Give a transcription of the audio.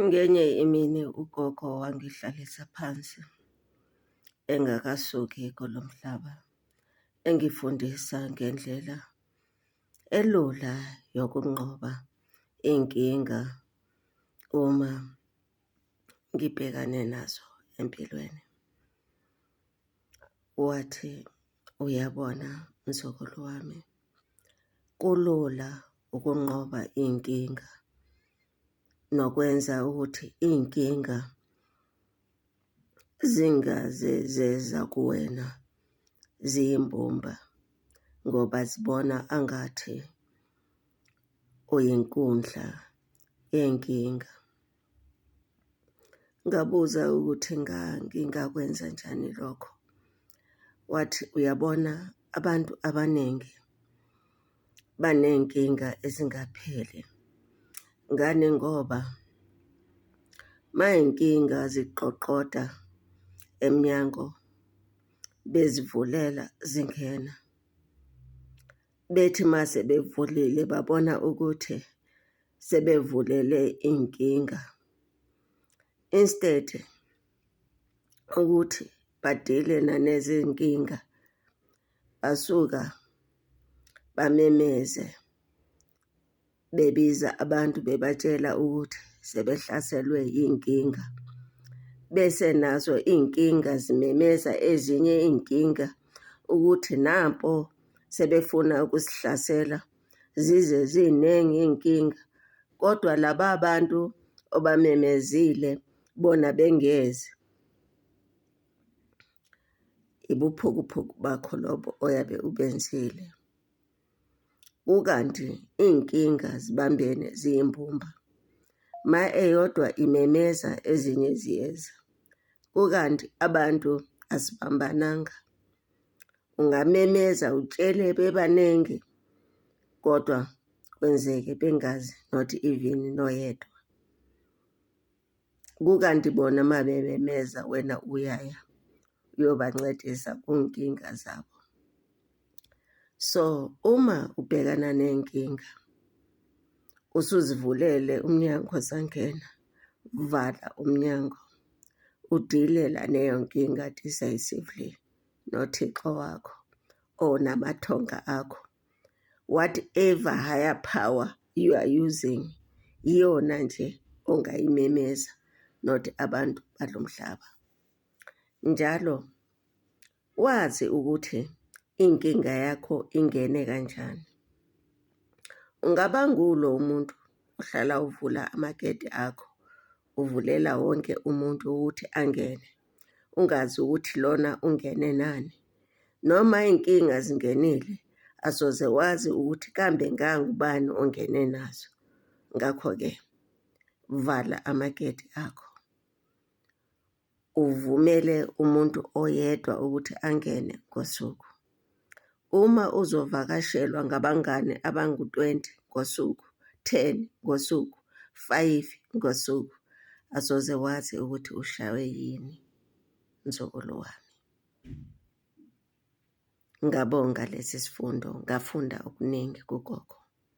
Ngenye imini ugogo wangihlalisa phansi engakasuki kulo mhlaba, engifundisa ngendlela elula yokunqoba iy'nkinga uma ngibhekane nazo empilweni. Wathi. Uyabona mzukulu wami, kulula ukunqoba iy'nkinga nokwenza ukuthi iy'nkinga zingaze zeza kuwena ziyimbumba ngoba zibona angathi uyinkundla yenkinga. Ngabuza ukuthi ngingakwenza njani lokho, wathi uyabona abantu abaningi baney'nkinga ezingapheli. Ngani ngoba uma iy'nkinga ziqoqoda emnyango bezivulela zingena. bethi uma sebevulile babona ukuthi sebevulele inkinga instead ukuthi badile nanezinkinga basuka bamemeze bebiza abantu bebatshela ukuthi sebehlaselwe yinkinga bese nazo inkinga zimemeza ezinye inkinga ukuthi nampo sebefuna ukusihlasela zize ziningi inkinga kodwa laba abantu obamemezile bona bengezi ibuphukuphuku bakho lobo oyabe ubenzile kukanti iy'nkinga zibambene ziyimbumba. Uma eyodwa imemeza ezinye ziyeza, kukanti abantu asibambananga. Ungamemeza utshele bebaningi kodwa kwenzeke bengazi not even noyedwa. Kukanti bona uma bememeza wena uyaya uyobancedisa kunkinga zabo. So uma ubhekana nenkinga usuzivulele umnyango sangena, vala umnyango udilela neyo nkinga decisively noThixo wakho or namathonga akho whatever higher power you are using iyona nje ongayimemeza not abantu balo mhlaba njalo wazi ukuthi inkinga yakho ingene kanjani ungaba ngulo umuntu ohlala uvula amagede akho uvulela wonke umuntu ukuthi angene, ungazi ukuthi lona ungene nani. Noma iy'nkinga zingenile, asoze wazi ukuthi kambe ngangubani ongene nazo. Ngakho-ke vala amagedi akho. uvumele umuntu oyedwa ukuthi angene ngosuku. Uma uzovakashelwa ngabangane abangu-20 ngosuku, 10 ngosuku, 5 ngosuku, asoze wazi ukuthi ushaywe yini mzukulu wami. Ngabonga lesi sifundo, ngafunda okuningi kugogo.